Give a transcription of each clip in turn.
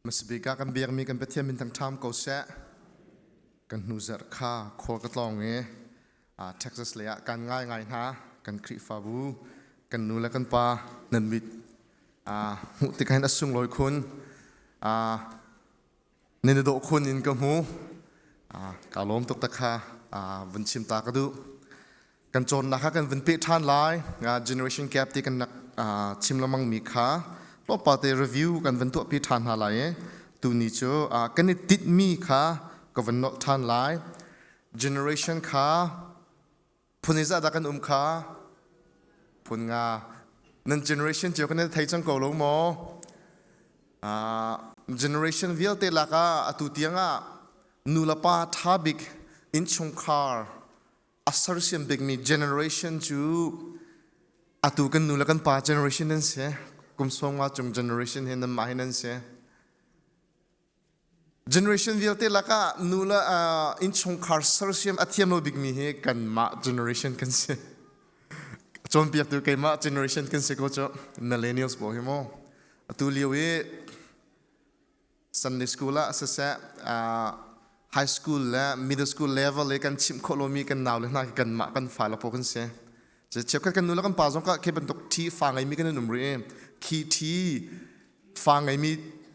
Masabik ah kan biakmi kan Pathian min thangṭham ko seh. Kan hnu zarh kha khual ka tlawng i Texas lei ah kan ngaingai hna kan Khrihfabu kan nu le kan pa nan mit hmuh tik hin a sunglawi khun. Nan i dawh khun in ka hmu. Ka lawm tuk tak kha vun chim ta ka duh. Kan cawnnak kha kan vun peh ṭhan lai. Generation gap ti kan rak chim lengmang mi kha tlawmpate review kan vun tuahpi ṭhan hna lai i tuni cu kan i tinh mi kha ka vun nolh ṭhan lai. Generation kha phun i zahdah kan um kha phun nga nan generation cio kan thei cang ko lo maw uh, generation vialte laka atu tiangah nu le pa tha bik inchungkhar asar siam bikmi generation cu atu kan nu le kan pa generation nan se kum som nga chung generation hi nan mah hi nan se generation vialte lakah nu le uh, innchungkhar sersiam a thiam lo bikmi hi kanmah generation kan si cawnpiaktu keimah generation kan si ko cu millennials bo hi mo atu lio i sunday school ah siseh uh, high school le middle school level i kan chimh khawh lomi kan nau le hna khi kanmah kan fa lapo kan si cheukhat kan nu le kan pa zong ka khi bantuk thi fa ngeimi kan in um rih i khi thi fa ngeimi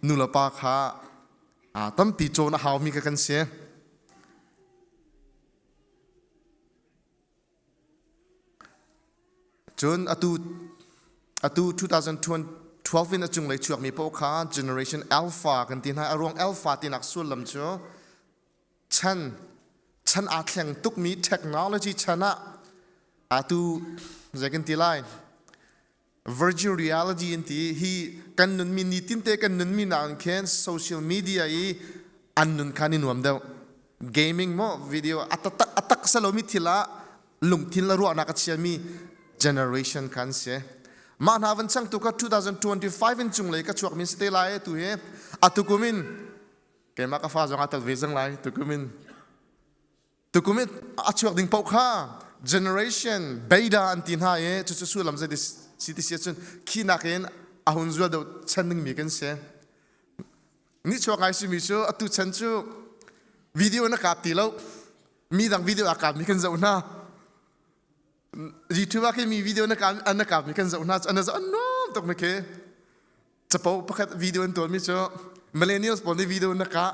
nu le pa kha aa tampi cawn a haumi kha kan si Cun atu 2012 in a cunglei chuakmi paoh kha Generation Alpha kan ti hna. A ruang Alpha tinak sullam cu chan aa thleng tukmi technology chan ah atu zei kan ti lai? virgin reality an ti hi kan nunmi nitin te kan nunmi nak in khin social media i an nun khan i nuam deuh gaming mo video atatak atak salomi thil ah lungthin la ruahnak a chiami generation khan se mah hna van chang tu ka 2025 in chung lei ka chuak min site lai tu he atukumin keima ka fa zong atat ve zang lai tukumin tukum i a chuak ding paoh kha generation beta an ti hna i cucu sullam zei si ti si cun khi nakin a hun zual deuh chan dingmi kan si nichuak ai simi cu atu chan cu video na kap ti lo mi dang video a kapmi kan zoh hna youtube ah mi video na kap an na kapmi kan zoh hna cu an zoh enorm tuk mi khi capo pakhat video an tualmi cu millennials pawl nih video na kah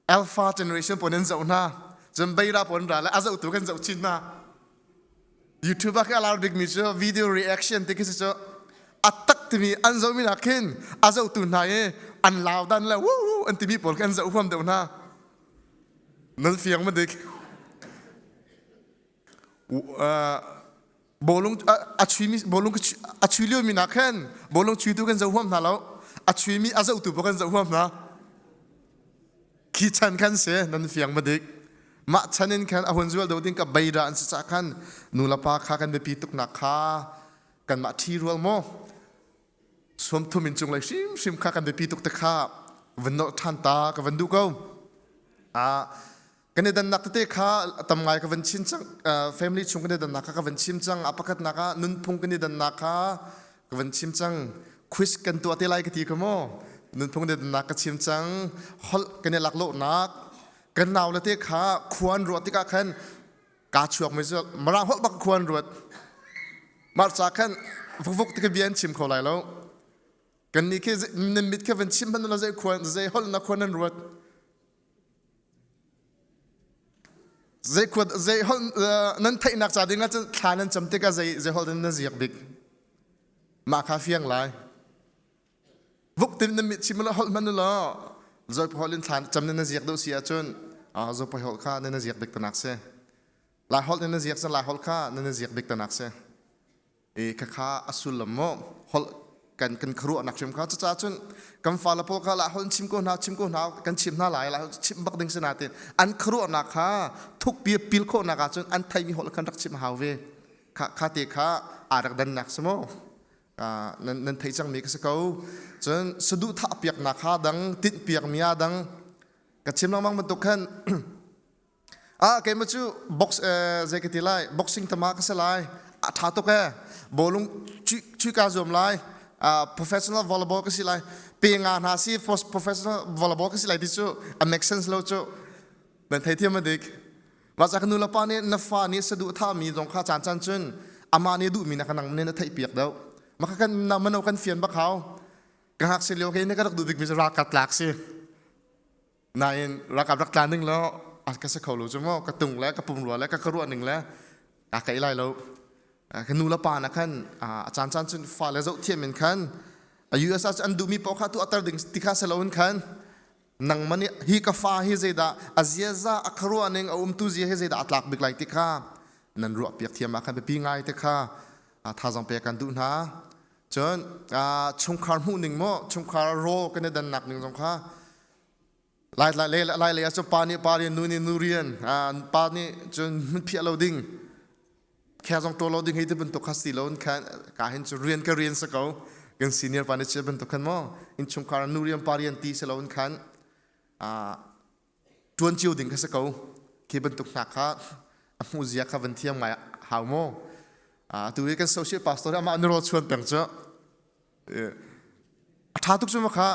Alpha generation pon in zoh hna. Cun beira pon ra le a zoh tu kan zoh chin hna. YouTube a alar bikmi cu video reaction ti khi si cu a tak timi an zohmi nak khin a zoh tu hna i an lau dan le wu wu an timi pawl khin an zoh huam deuh hna. Nan fiang ma dik. bolung a chuimi bolung a chui lio mi nak hen bolung chui tu kan zoh huam hna lo a chui mi a zoh tu pa kan zoh huam hna khi chan khan se nan fiang ma dik mah chan in khan a hun zual do ding ka bai ra an si cha khan nu la pa kha kan biapi tuk nak kha kan ma thi rual mo som thum in chung lai shim shim kha kan biapi tuk te kha van no than ta ka van du ko a kan i dannak tete kha a tam ngai ka van chin cang family chung kan i dannak kha ka van chim cang a pakhatnak ah nunphung kan i dannak kha ka van chim cang quiz kan tuah te lai ka ti ka maw nunphung kan i dannak ka chim cang holh kan i laklawhnak kan nau le te kha khuan ruah tikah khan kaa chuak mai zual mara holh bak khuan ruat marca khan vukvuk ti ka bian chim kho lai lo kan ni khi nan mit kha van chim hman la zei khuan zei holh na khuan nan ruat nan theihnak ca ding ahcun thla nan cam tikah zei holh in nan ziak bik mah kha fiang lai vuk tin na mit chim lo holh hman lo zoipa holh in thla cam nan ziak deuh si ahcun zopa holh kha nan ziak bik tanak si lai holh in na ziak sa lai holh kha nan ziak bik tanak si e khakha asullam mo hol kan kan khruah nak hrim kha cuca cun kan fa lapo kha la hol chim ko hna chim ko hna kan chim hna lai la chim bak ding sena te an khruah nak kha thuk pi pil kho nak a cun an thai mi hol kan rak chim hau ve kha kha te kha arak dan nak samo nan nan thei chang mi ka se ko cun sadu tha piak na kha dang tin piak mia dang ka chim lang mang bantuk khan ah keima cu box zei ka ti lai boxing tama ka se lai a tha tuk e bolung chui ka zuam lai professional volleyball ka si lai pe nga hna si professional volleyball ka si lai ti cu a make sense lo cu nan thei thiam dik ma cha kanu la pa ne na fa ne sadu tha mi zong kha chan chan chun ama ne du mi na kanang ne na thei piak do ma ka kan na mano kan fian ba khao ka hak se leo ke ne ka rak du big mi ra ka tlak si nain ralkap rak tla ning lo a ka se kho lo cu maw ka tung le ka pumrua le ka ka ruah ning le a ka lai lo ka nu le pa na khan a caan caan cun fa le zoh thiam in khan a US ah an duhmi paoh kha tu atar ding ti kha selo in khan nang mani hi ka fa hi zeidah a ziaza a kharua ning a umtu zia hi zeidah a tlak bik lai ti kha nan ruah piak thiam ah khan biapi ngai te kha thazang pe kan duh hna cun chungkhar hmuh ning mo chungkhar ro kan i dannak ning zong kha lai lai le lai le ah pa nih pa rian nu nih nu rian pa nih cun hun phiah lo ding khe zong ṭaw lo ding hei ti bantuk kha si lo in khan ka hin cu rian ka rian sa ko kan senior pa nih chia bantuk khan maw in chungkhar nu rian pa rian ti si lo in khan ṭuan cio ding kha si ko khi bantuk hna kha a hmuh zia kha van thiam ngai hau maw atu i kan social pastor amah ni ro chuan peng cu a ṭha tuk cu makha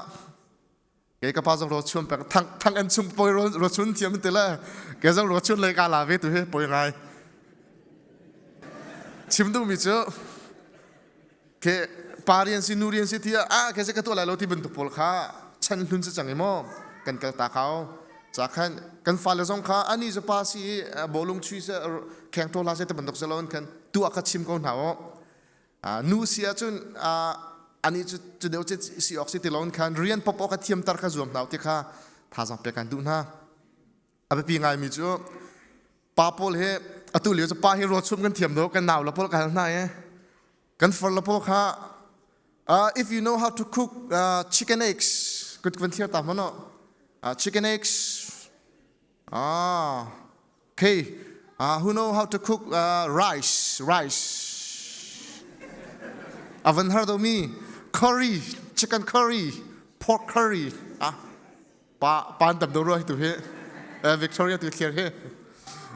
kei ka pa zong ro chuan peng thang thang an chung poi ro ro chun thiam te le kei zong ro chun le ka la ve tu hi poi ngai chim duh mi cu ke pa rian si nu rian si ti ah ke se ka tuah lai lo ti bantuk pawl kha chan hlun se chang imo kan kal ta khao cha khan kan fale zong kha ani za pa si bolung chui se kheng thola se te bantuk se lon khan tu aka chim ko hna o nu si ahcun anih cu cu deu ce si awk si ti loin khan rian pop awk a thiamtar kha zuam hna u ti kha thazang pek kan duh hna a biapi ngaimi cu pa paul hi atu lio cu pa hi ruachum kan thiam do kan nau la paul ka hal hna i kan far la paul kha uh, if you know how to cook uh, chicken eggs kut kan thiar ta hmano uh, chicken eggs ah Okay, uh, who know how to cook uh, rice? Rice. Haven't heard of me. Curry, chicken curry, pork curry. Ah, pa pan tam do roi tu hi. Uh, Victoria tu clear hi.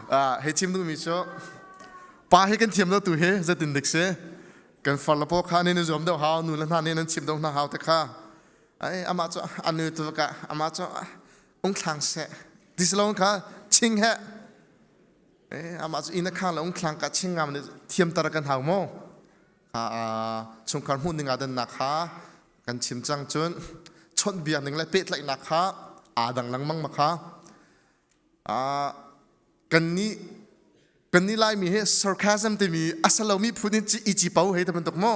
Uh, he chim du mi cho. Pa hi kan thiam do tu hi zatin dik se. Kan far la po kha ne ne zom do hao nu la na ne nan chim do na hao te kha. Ai ama cho anu tu ka ama cho ung thlang se dislong kha ching he amah cu ina khang le ung thlang ka ching ngam thiam tar kan hau mo chungkhar hmuh ning adannak kha kan chim cang cun chawnh biak ning le pehtlaihnak kha aa dang lengmang ma kha kan ni kan ni lai mi he sarcasm timi asalomi phun in ci ici pau hei taman tuk mo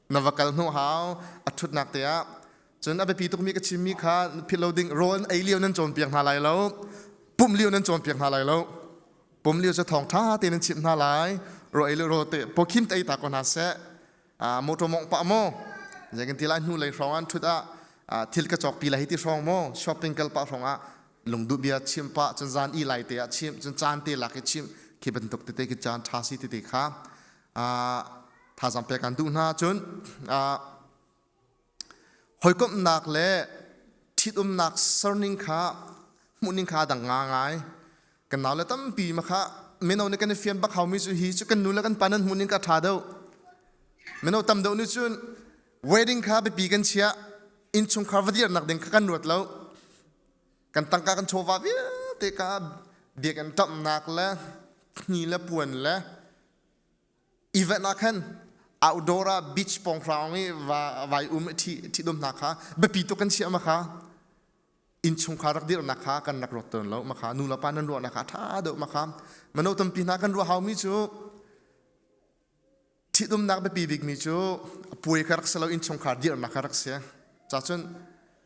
na va kal hnu hau a ṭhutnak te ah cun a biapi tukmi ka chimmi kha philh lo ding rawn ei lio nan cawnpiak hna lai lo pum lio nan cawnpiak hna lai lo pum lio cu thawng ṭha tein chimh hna lai ro ei le ro te pokhin tei ta ko hna seh motor mong pa maw zekin ti lai hnu lei hrawng an ṭhut ah thil ka cawk pi lai hi ti hrawng maw shopping kal pa hrawng ah lungduh bia chim pa cun zan i lai te ah chim cun caan te lak i chim khi bantuk tete ki caan ṭha si tete kha thazaang pek an duh hna cun hawikomhnak le ṭhitumnak serning kha hmuhning kha dang nga ngai kan nau le tampi ma kha mino nih kan i fian bak haumi cu hi cu kan nu le kan pa nan hmuhning ka ṭha deuh mino tam deuh nih cun wedding kha biapi kan chiah innchungkhar va dirnak ding kha kan ruat lo kan tangka kan chawva vialte ka biak an ṭamhnak le ni le puan le Event ah khan outdoor ah beach pong hrawng i vai um ṭhi dum hna kha biapi tuk kan chiah ma kha innchungkhar rak dirhnak kha kan rak ruat tawn lo ma kha nu le pa nan ruahnak kha a ṭha deuh ma kha mano tampi hna kan ruah haumi cu ṭhitumnak biapi bikmi cu a puai kha rak si lo innchungkhar dirhnak kha rak si cacun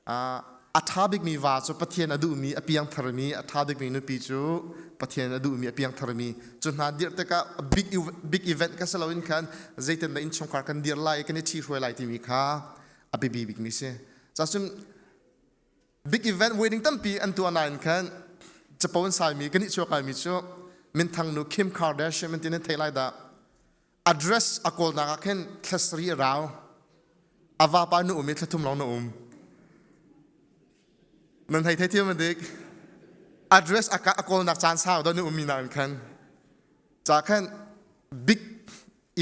A ṭha bikmi va cu Pathian a duhmi a piangtharmi, a ṭha bikmi nupi cu Pathian a duhmi a piangtharmi. Cu hna dirh tikah a big, big event ka si loin khan zeitindah innchungkhar kan dir lai i kan i ṭhihruai lai timi kha a biapi bikmi si. Cun big event wedding tampi an tuah nain khan capo an saimi, kan i chuak laimi cu minthang nu Kim Kardashian an ti nan thei lai dah. address a kawlnak ah khin thlasri a rau avapa nu um i thlathum long na um nan hei thei thiam dik address a kawlnak caan sau don um mi na in khan ca khan big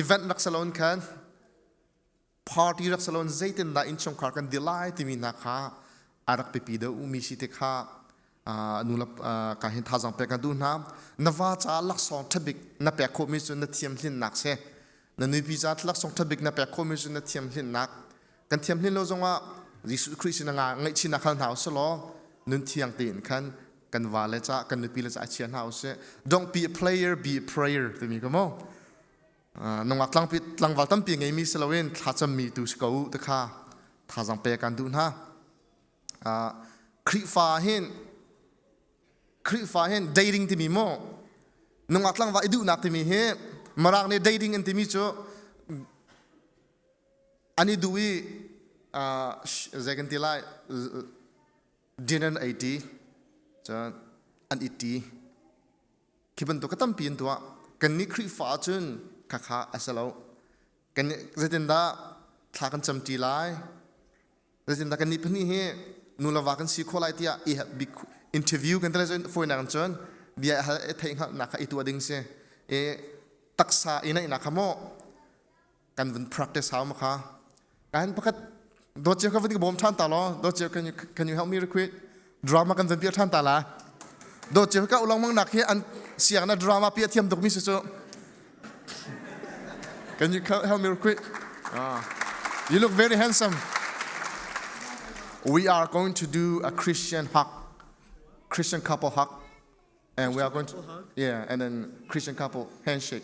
event rak salon khan party rak si loin zeitindah innchungkhar kan dir lai timi hna kha a rak pipi deuh mi si te kha nulap ka hin thazang pek ka duh hna na va ca laksawng ṭhabik na pek khawhmi cu na thiam hlinnak si na nupi ca laksawng ṭhabik na pek khawhmi cu na thiam hlinnak kan thiam hlin lo zongah Jesuh Khrist na ngaihchihnak hal hna usih law nun thiang tein khan kan va le ca kan nupi le ca chia hna usih don't be a player be a prayer timi ka mo nungak tlangpi tlangval tampi ngeimi si loin thlacam mi tu si ko uh te kha thazang pe kan duh hna Khrihfa hin Khrihfa hin dating timi mo nungak tlangva i duhnak timi hi marak ne dating an timi cu ani du i zei kan ti lai dinner 80 an it Khi bantuk ka tampi in tuah kannih Khrihfa ah cun khakha a si lo. Kan zeitindah thla kan camṭi lai? Zeitindah kan nih pahnih hi nu le va kan si khawh lai tiah i bik interview kan tale fawinak in cun bia hal i theih hngalhnak kha i tuah ding si. I taksa i naihnak kha maw kan vun practice hau makha kan pakhat dawt cio kan vun bawm than ta lo dawt cio can you can you help me real quick drama kan zan pia than ta la dawt cio ka ulong mang nak hi an siang na drama pia thiam tuk mi su chu can you help me real quick ah you look very handsome we are going to do a Christian hug Christian couple hug and we are going to yeah and then Christian couple handshake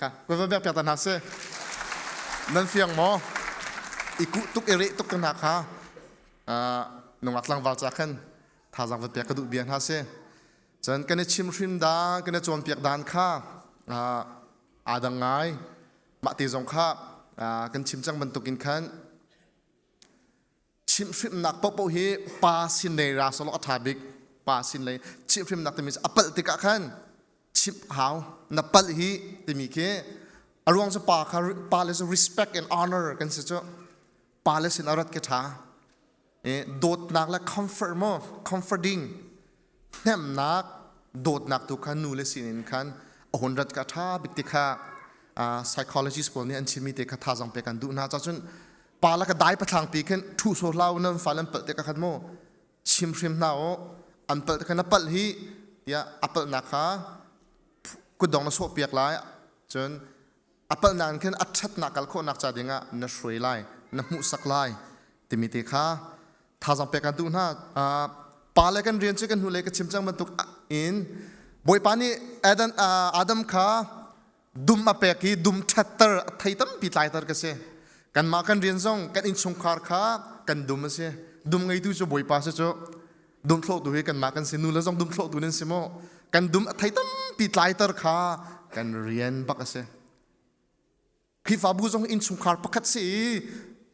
Ka va biak piak ta hna si. Nan fiang maw? I kuh tuk i reh tuk ka hna kha. Nungak tlangval ca khan thazang va piak ka duh bia hna si. Cun kan i chim hrim da, kan i cawn piak dan kha aa dang ngai. Mah te zong kha kan chim cang bantukin khan Chimhhrimhnak paohpaoh hi pa sin lei ra sawlaw a ṭha bik. Pa sin lei chimhhrimhnak timi a palh tikah khan chimh hau. Na palh hi timi khi a ruang cu pa kha pa le cu respect and honor kan si cu. Pa le sin a rat khi ṭha. dawtnak le comfort mo comforting hnemnak dawtnak tu kha nu le sin in khan a hun rat ka ṭha bik ti kha psychologist pawl nih an chimmi te kha thazang pe kan duh hna cah cun pa la ka dai pathlang ti khin ṭhu so hlau nan fa nan palh te ka khan mu chim hrim hna o an palh te khan a palh hi tiah a palhnak kha kudong na sawh piak lai cun apal nakin khin a ṭhatnak kal khawhnak ca dingah na hruai lai na hmuhsak lai timi te kha thazang pek kan tu hna pa le kan rian cu kan hnulei ka chim cang bantuk in bawipa nih Adam Adam kha dum a pek i dum ṭhatter a thei tampi tlaitar ka si kanmah kan rian zong kan innchungkhar kha kan dum a si dum ngeitu cu bawipa si cu dumthlohtu hi kanmah kan si nu le zong dumthlohtu nan si maw kan dum a thei tampi tlaiter kha kan rian bak a si Khrihfabu zong innchungkhar pakhat si i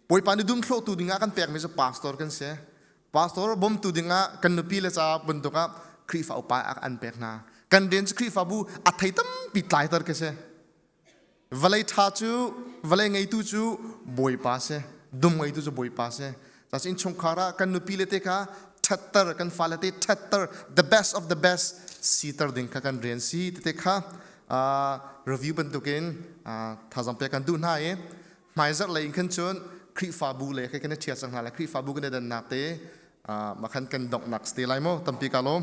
bawipa ni dumthlohtu dingah kan pekmi cu pastor kan si pastor bawmtu dingah kan nupi le ca bantuk ah Khrihfa upa an pek hna kan den cu Khrihfabu a thei tampi tlaiter ka si Vawlei ṭha cu vawlei ngeitu cu Bawipa si dum ngeitu cu Bawipa si Casi innchungkhar ah kan nupi le te kha ṭhatter kan fale te ṭhatter the best of the best siter ding kha kan rian si tete kha review bantukin thazang pek kan duh hna i hmaizarh lei in khan cun Khrihfabu le kha kan i ṭhial cang hna le Khrihfabu kan i dannak te ma khan kan donghnak te lai maw tampi ka lawm